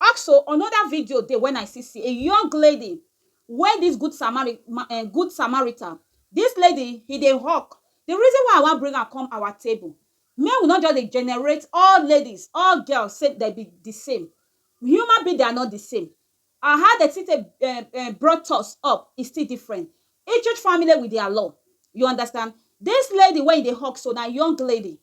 Also anoda video dey wen I see see a young lady wey dis good samari ma um good samarita dis lady he dey hawk di reason why I wan bring am come our table make we no just dey generate all ladies all girls say dem be di same human being dem are not di same and how dem still take um brought us up is still different each each family with dia law you understand dis lady wey he dey hawk so na young lady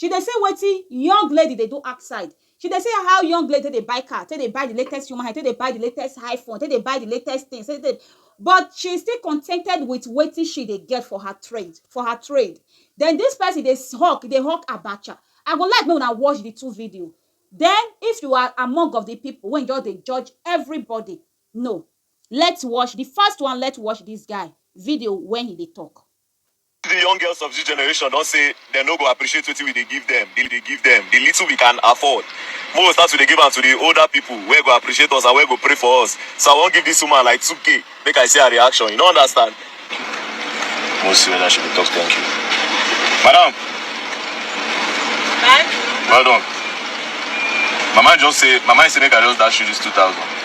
She dey say wetin young lady dey do outside. She dey say how young lady take dey buy car, take dey buy the latest human hair, take dey buy the latest iPhone, take dey buy the latest things, take dey but she still contented with wetin she dey get for her trade, for her trade. Den dis person dey hawk, e dey hawk abacha. I go like make una watch the two video. Den if you are among of the people wey just dey judge everybody, no. Let's watch, the first one, let's watch dis guy video when he dey talk. Di young girls of dis generation don say dem no go appreciate wetin we dey give dem, di dey give dem, di little we can afford, make we start to dey give am to di older pipo wey go appreciate us and wey go pray for us, so I wan give dis woman like two k make I see her reaction, you no understand? Make we see weda she go talk thank you. Madam! Thank you. Well done. Mama just say, mama say make I just dash you dis two thousand.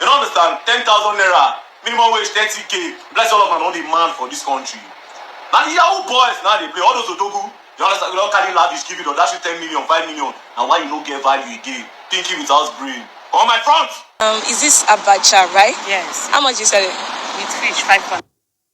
Dem no understand. Ten thousand naira, minimum wage thirty k. Bless all of una no dey man for this country. Na the yahoo boys na dey play. All those odogu, you understand? You don carry lavish give it or dash you ten million, five million. Na why you no get value again. Thinking without brain. Come my front! Um, is this abacha, right? Yes. How much you sell it? With fish, five pounds.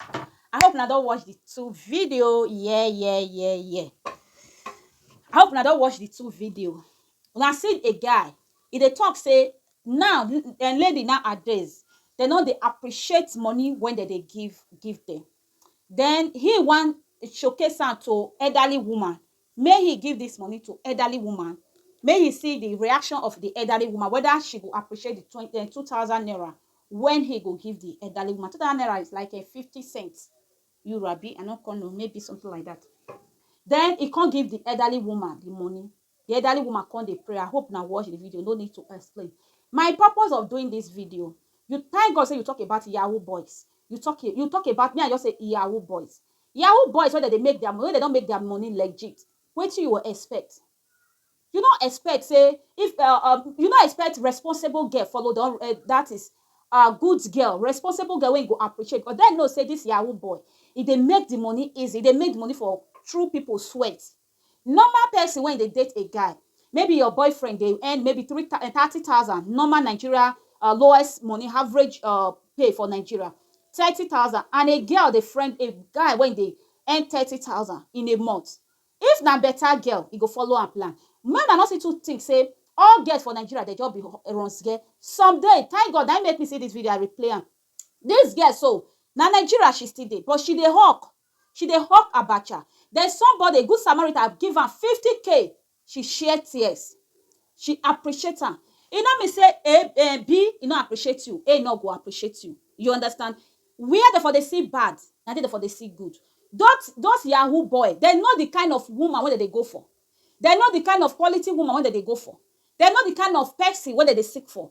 I hope una don watch the two video. Yeah, yeah, yeah, yeah. I hope una don watch the two video. Una see a guy, e dey talk say now n- eh, lady nowadays dem no dey appreciate money when dem dey give give them. Then he wan showcase am to elderly woman May he give this money to elderly woman may he see the reaction of the elderly woman whether she go appreciate the twen- eh, 2000 naira when he go give the elderly woman 2000 naira is like a 50 cents euro abi i no come know maybe something like that then he come give the elderly woman the money the elderly woman come dey pray i hope na watch the video no need to explain my purpose of doing this video you thank god say you talk about yahoo boys you talk you talk about me i just say yahoo boys Yahoo boys wey dem dey make their wey dem don make their money legit wetin you go expect you no expect say if um you no expect responsible girl follow don that is um good girl responsible girl wey you go appreciate because dem know say this yahoo boy e dey make the money easy e dey make the money for through people sweat. Normal person wey dey date a guy, maybe your boyfriend dey earn maybe three thou thirty thousand normal Nigeria um lowest money average um pay for Nigeria thirty thousand and a girl dey friend a guy wey dey earn thirty thousand in a month, if na better girl e go follow am plan. Make una no still too think say all girls for Nigeria dem just be runs geh, some dey, thank God na im make me see this video I replay am, this girl so na Nigeria she still dey but she dey hawk She dey hawk abacha. Then somebody, a good Samaritan, give am fifty k. She share tears. She appreciate am. E no mean say A, um, B e no appreciate you, A no go appreciate you. You understand? Where dem for dey see bad, na there dem for dey see good. Dot, those yahoo boy, dem know the kind of woman wey dem dey go for. Dem know the kind of quality woman wey dem dey go for. Dem know the kind of person wey dem dey seek for.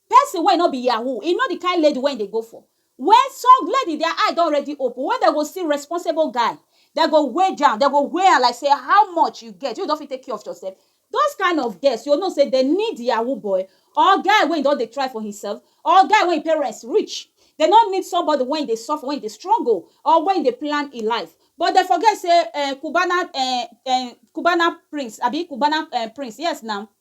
Person wey e no be yahoo, e know the kind lady wey e dey go for. When some lady their eye don already open, when dem go see responsible guy, dem go wage am, dem go weigh am like say how much you get, wey you don fit take care of yourself. Those kind of girls, you go know say dem need yahoo boy or guy wey e don dey try for himself or guy wey e parents rich. Dem no need somebody wey e dey suffer, wey e dey struggle or wey e dey plan e life. But dem forget say um Cubana um um Cubana prince abi Cubana um prince, yes na,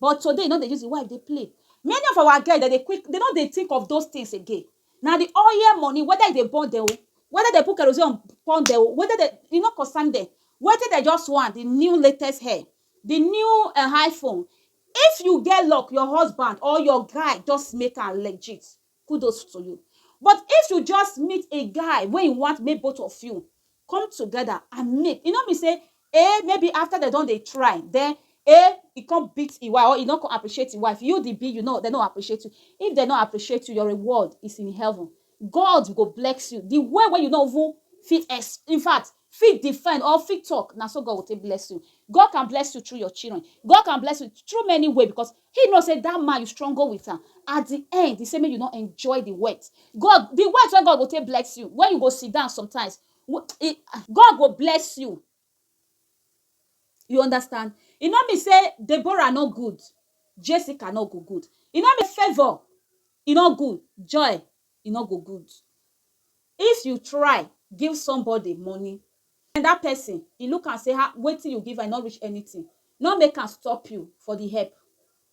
But today you no dey use the wife dey play Many of our guys dem dey quick dem no dey think of those things again Na the oil money whether e dey burn dem o Whether dem put kerosene on burn dem o Whether dem e no concern dem Wetin dem just want the new latest hair The new um iPhone If you get luck your husband or your guy just make am legit kudos to you but if you just meet a guy wey you want make both of you come together and make e no mean say eh maybe after dem don dey try then eh e come beat e wife or e no come appreciate e wife you the be you no dem no appreciate you if dem no appreciate you your reward is in heaven God go bless you the way wey you no even fit ex in fact fit defend or fit talk na so God go take bless you God can bless you through your children God can bless you through many way because He know say that man you struggle with am at the end he say make you no enjoy the wet God the wet wey God go take bless you when you go sit down sometimes God go bless you you understand e no mean say Deborah no good Jessica no go good e no mean favour e no good joy e no go good if you try give somebody money And dat pesin, e look am sey, Ha! Wetin you give am, e no reach anytin. No make am stop you for di help.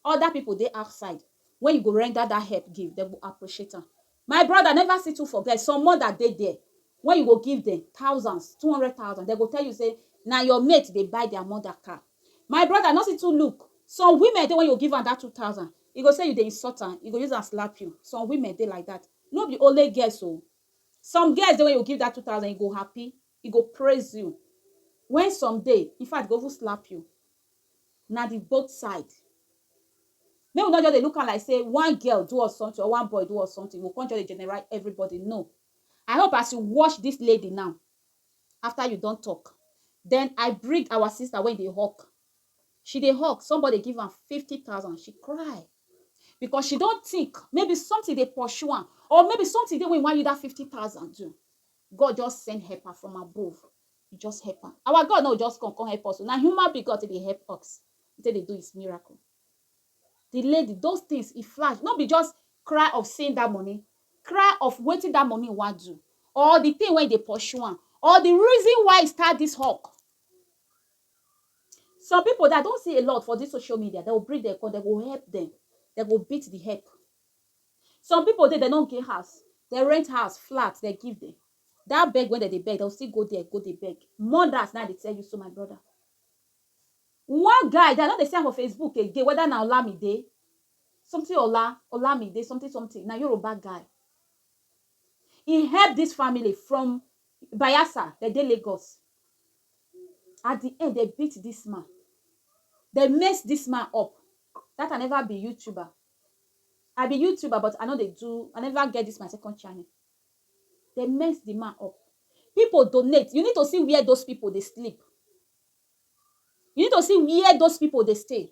Oda pipo dey outside, wen you go render dat help give, dem go appreciate am. My broda, neva see too forget, some moda dey there, wen you go give dem thousands, two hundred thousand, dem go tell you sey na your mate dey buy dia moda car. My broda, no see too look, some women dey wen you go give am dat two thousand, e go sey you dey insult am, e go use am slap you. Some women dey like dat. No be only girls o, Some girls dey when you give that 2000 e go happy, e go praise you when some dey in fact e go even slap you na the both side make we no just dey look am like say one girl do us something or one boy do us something we go come just dey generalize everybody no I hope as you watch this lady now after you don talk then I bring our sister wey dey hawk she dey hawk somebody give am fifty thousand she cry because she don think maybe something dey pursue am or maybe something dey wey wan use that fifty thousand do God just send helper from above he just help am our God no just come come help us na human being God dey help us he take dey do his miracle the lady those things e flash no be just cry of seeing that money cry of wetin that money wan do or the thing wey dey pursue am or the reason why e start this hawk Some people that I don see a lot for this social media, dem go bring dem come, dem go help dem, dem go beat the help. Some people dey, dem no get house, dem rent house, flat, dem give dem. That beg wey dem dey beg, dem go still go there go dey beg. Mothers na I dey tell you so, my brother. One guy that I no dey see am for Facebook again, whether na Olamide, something Ola, Olamide, something something, na Yoruba guy. He help this family from Bayelsa, dem dey Lagos, at the end dem beat this man dem mess this man up that i never be youtuber i be youtuber but i no dey do i never get this my second channel dem mess the man up people donate you need to see where those people dey sleep you need to see where those people dey stay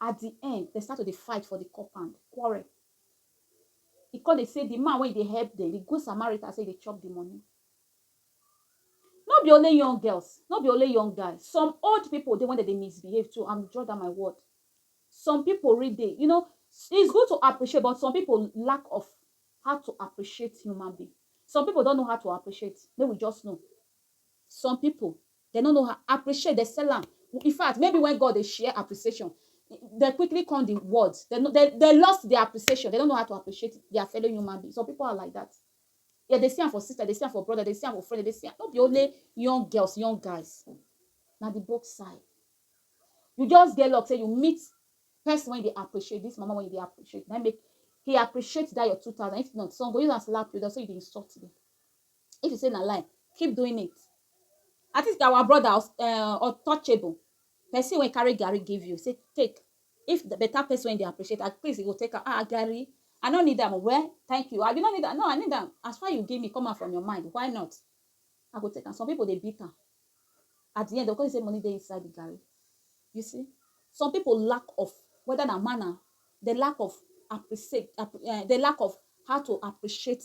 At di end, dem start to dey fight for di compound, quarrel. E come dey say di man wey e dey help dem, di good Samaritan, say e dey chop di money. No be only young girls, no be only young guys, some old people dey wey dem dey misbehave too, I'm draw down my word. Some people really dey, you know, it's good to appreciate but some people lack of how to appreciate human being. Some people don't know how to appreciate, make we just know. Some people dem no know how appreciate dem sell am in fact maybe when God dey share appreciation they quickly come the words they, they, they lost their appreciation they don't know how to appreciate their fellow human being some people are like that yeah they see am for sister they see am for brother they see am for friend they see am no be only young girls young guys na the both side you just get luck say you meet person wey dey appreciate this mama wey dey appreciate na make he appreciate that your two thousand if not some go use am slap you down so you dey insult them if you say na lie keep doing it at least our brother us um untouchable person wey carry garri give you say take if the better person wey dey appreciate at least you go take am ah garri I no need am o well thank you abi you no need am no I need am as far you give me come out from your mind why not I go take am some people dey beat am at the end dem go come say money dey inside the garri you see some people lack of whether na man na the lack of appreciate um the lack of how to appreciate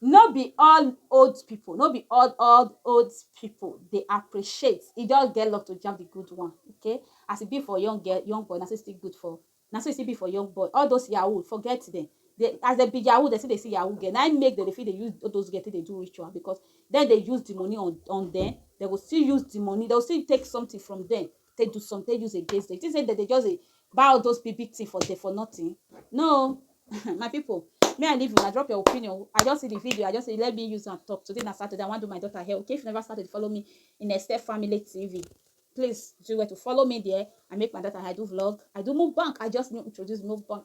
No be all old people, no be all all old people dey appreciate, e just get luck to jab the good one okay, as e be for young girl, young boy na so e still good for, na so e still be for young boy, all those yahoo forget dem, dem as dem be yahoo dem still dey see yahoo girl na im make dem dey fit dey use all those girl take dey do ritual because dem dey use the money on on dem, dem go still use the money, dem go still take something from dem take do something, take use against them. You think say dem dey just dey buy all those big big thing for there for nothing? No, my people. Me I leave una drop your opinion. I just see the video. I just say let me use and talk. Today na Saturday. I wan do my daughter hair. Okay, if you never started to follow me in Esther Family TV, please do well to follow me there. I make my daughter. I do vlog. I do mukbang. I just introduce mukbang.